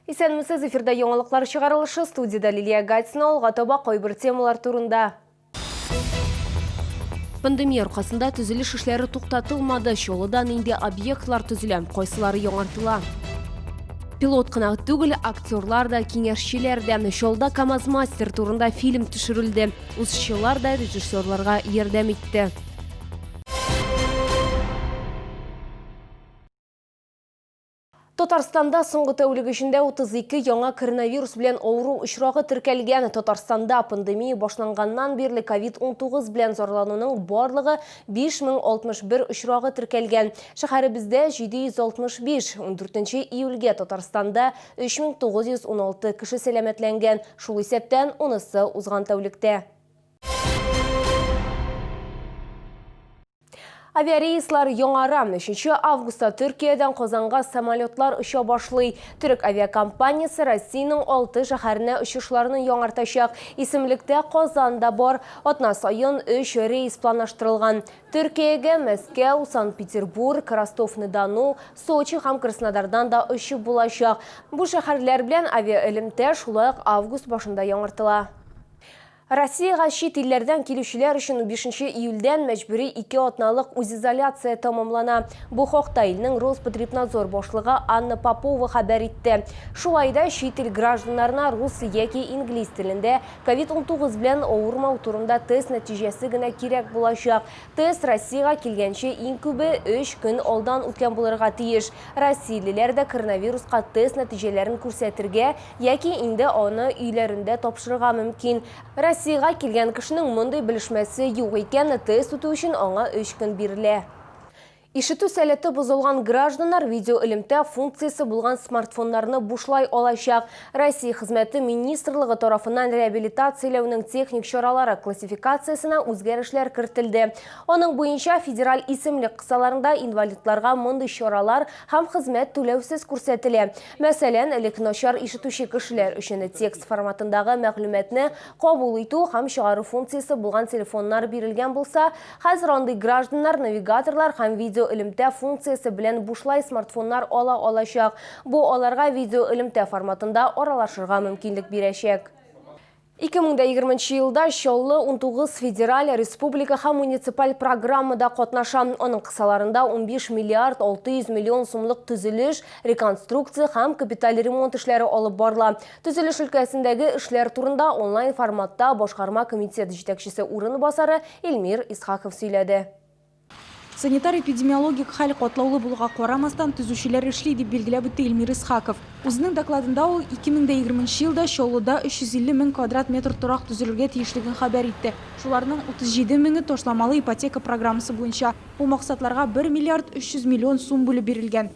Исәнмесез, эфирда яңалыклар чыгарылышы студияда Лилия Гатина алга таба кайбер темалар турында. Пандемия аркасында төзелеш эшләре туктатылмады. Чолыда нинди объектлар төзелә, кайсылары яңартыла? Пилот кына түгел, актерлар да, киңәшчеләр дә, Чалда КАМАЗ-мастер турында фильм төшерелде. Узчылар да режиссерларга ярдәм итте. Татарстанда соңгы тәүлек эчендә 32 яңа коронавирус белән авыру очрагы теркәлгән. Татарстанда пандемия башланганнан бирле COVID-19 белән зарлануның барлыгы 5061 очрагы теркәлгән. Шәһәребездә 765, 14 июльгә Татарстанда 3916 кеше сәламәтләнгән, шул исәптән унысы узган тәүлектә. Авиарейслар яңара. 3 августта Төркиядән Казанга самолетлар оча башлый. Төрек авиакомпаниясе Россиянең алты шәһәренә очышларны яңартачак. Исемлектә Казан да бар. Атна саен өч рейс планлаштырылган. Төркиягә Мәскәү, Санкт-Петербург, Ростов-на-Дону, Сочи һәм Краснодардан да очып булачак. Бу шәһәрләр белән авиаэлемтә шулай ук август башында яңартыла. Россиягә чит илләрдән килүчеләр өчен унбишенче июльдән мәҗбүри ике атналык үзизоляция тәмамлана. Бу хакта илнең Роспотребнадзор башлыгы Анна Попова хәбәр итте. Шулай да чит ил гражданнарына рус яки инглиз телендә Ковид унтугыз белән авырмау турында тест нәтиҗәсе генә кирәк булачак. Тест Россиягә килгәнче иң күбе өч көн алдан үткән булырга тиеш. Россиялеләр дә коронавируска тест нәтиҗәләрен күрсәтергә яки инде аны өйләрендә тапшырырга мөмкин. Россиягә килгән кешенең мондый белешмәсе юк икән, тест үтү өчен аңа өч көн бирелә. Ишетү сәләте бозылган гражданнар видеоэлемтә функциясе булган смартфоннарны бушлай алачак. Россия Хезмәте министрлыгы тарафыннан реабилитацияләүнең техник чаралары классификациясенә үзгәрешләр кертелде. Аның буенча федераль исемлек кысаларында инвалидларга мондый чаралар һәм хезмәт түләүсез күрсәтелә. Мәсәлән, элек начар ишетүче кешеләр өчен текст форматындагы мәгълүматны кабул итү һәм чыгару функциясе булган телефоннар бирелгән булса, Хәзер андый гражданнар навигаторлар һәм видеоэлемтә функциясе белән бушлай смартфоннар ала алачак. Бу аларга видеоэлемтә форматында аралашырга мөмкинлек бирәчәк. 2020 нче елда Чаллы унтугыз федераль, республика һәм муниципаль программада катнаша. Аның кысаларында унбиш миллиард алты йөз миллион сумлык төзелеш, реконструкция һәм капиталь ремонт эшләре алып барыла. Төзелеш өлкәсендәге эшләр турында онлайн форматта башкарма комитет җитәкчесе урынбасары Илмир Исхаков сөйләде. Санитар-эпидемиологик хәл катлаулы булуга карамастан, төзүчеләр эшли, дип билгеләп үтте Илмир Исхаков. Үзенең докладында ул 2020 нче елда Чаллыда 350 мең квадрат метр торак төзелергә тиешлеген хәбәр итте. Шуларның 37 меңе ташламалы ипотека программасы буенча. Бу максатларга 1 миллиард 300 миллион сум бүлеп бирелгән.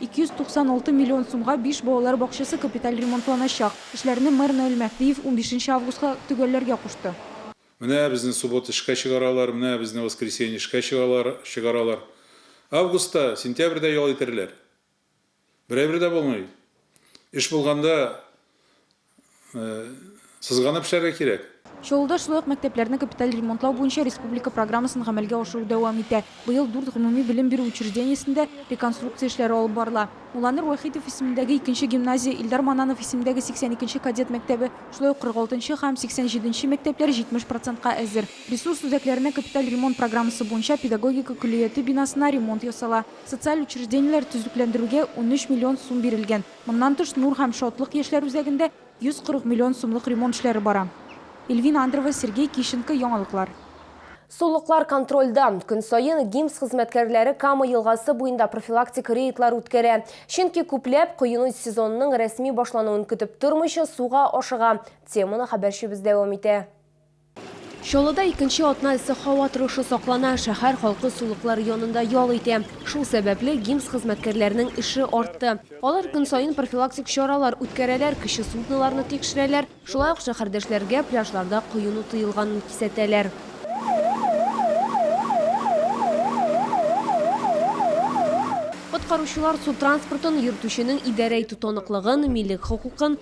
296 миллион сумга биш балалар бакчасы капиталь ремонтланачак. Эшләрне мэр Наил Мәһдиев унбишенче августка төгәлләргә кушты. Менә безне суббота эшкә чыгаралар, менә безне воскресенье эшкә чыгалар, чыгаралар. Августта, сентябрьдә ял итәрләр. Берәйбер дә булмый. Эш булганда Сызганып эшләргә кирәк. Чаллыда шулай ук мәктәпләрне капиталь ремонтлау буенча республика программасын гамәлгә ашыру дәвам итә. Быел дүрт гомуми белем бирү учреждениесендә реконструкция эшләре алып барыла. Уланыр Вахитов исемендәге икенче гимназия, Илдар Мананов исемендәге 82 кадет мәктәбе, шулай ук 46 нчы һәм 87 нче мәктәпләр 70 процентка әзер. Ресурс үзәкләренә капиталь ремонт программасы буенча педагогика көллияте бинасына ремонт ясала. Социаль учреждениеләр төзекләндерүгә унөч миллион сум бирелгән. Моннан тыш Нур һәм шатлык яшьләр үзәгендә 140 миллион сумлык ремонт эшләре бара. Эльвина Андрова, Сергей Кищенко, Яңалыклар. Сулыклар контрольдә. Көн саен ГИМС хезмәткәрләре Кама елгасы буенда профилактик рейдлар үткәрә. Чөнки күпләп, коену сезонының рәсми башлануын көтеп тормыйча, суга ашыга. Теманы хәбәрчебез дәвам итә. Чаллыда икенче атна эссе һава торышы саклана. Шәһәр халкы сулыклар янында ял итә. Шул сәбәпле, ГИМС хезмәткәрләренең эше артты. Алар көн саен профилактик чаралар үткәрәләр, кече судноларны тикшерәләр, шулай ук шәһәрдәшләргә пляжларда коену тыелганын кисәтәләр. Коткаручылар су транспортын йөртүченең идарә итү таныклыгын, милек хокукын,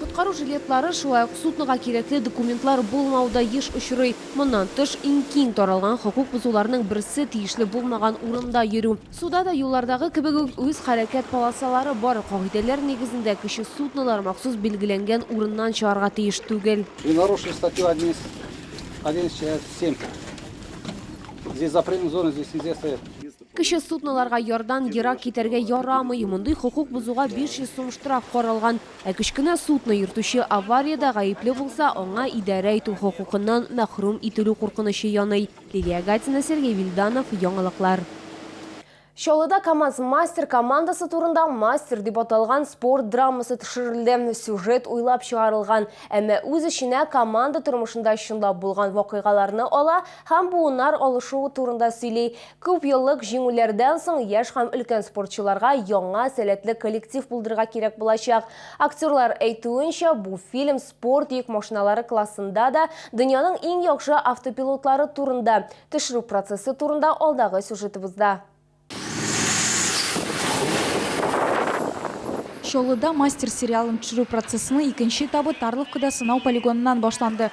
Коткару жилетлары, шулай ук суднога кирәкле документлар булмау да еш очрый. Моннан тыш, иң киң таралган хокук бозуларның берсе, тиешле булмаган урында йөрү. Суда да, юллардагы кебек үк, үз хәрәкәт полосалары бар. Кагыйдәләр нигезендә, кече суднолар махсус билгеләнгән урыннан чыгарга тиеш түгел. При нарушении статьи одиннадцать, одиннадцать часть семь, здесь запретных зон, здесь нельзя стоять. Кече судноларга ярдан ерак китәргә ярамый. Мондый хокук бозуга 500 сум штраф каралган. Ә кечкенә судно йөртүче авариядә гаепле булса, аңа идарә итү хокукыннан мәхрүм ителү куркынычы яный. Лилия Гатина, Сергей Вильданов, Яңалыклар. Чаллыда Камаз мастер командасы турында Мастер дип аталган спорт драмасы төшерелде. Сюжет уйлап чыгарылган, әмма үз эченә команда тормышында чынлап булган вакыйгаларны ала һәм буыннар алышу турында сөйли. Күп еллык җиңүләрдән соң яшь һәм өлкән спортчыларга яңа сәләтле коллектив булдырырга кирәк булачак. Актерлар әйтүенчә, бу фильм спорт йөк машиналары классында да дөньяның иң яхшы автопилотлары турында. Төшерү процессы турында алдагы сюжетыбызда. Чаллыда Мастер сериалын төшерү процессының икенче этабы Тарловкада сынау полигоныннан башланды.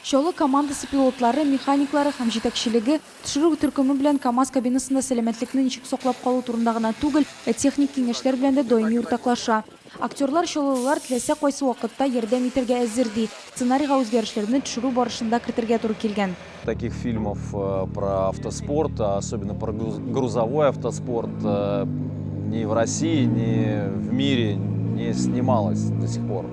Чаллы командасы пилотлары, механиклары һәм җитәкчелеге төшерү төркеме белән КАМАЗ кабинасында сәламәтлекне ничек саклап калу турында гына түгел, ә техник киңәшләр белән дә даими уртаклаша. Актерлар чаллылылар теләсә кайсы вакытта ярдәм итәргә әзер, ди. Сценарийга үзгәрешләрне төшерү барышында кертергә туры килгән. Таких фильмов про автоспорт, а особенно про грузовой автоспорт, ни в России, ни в мире не снималось до сих пор.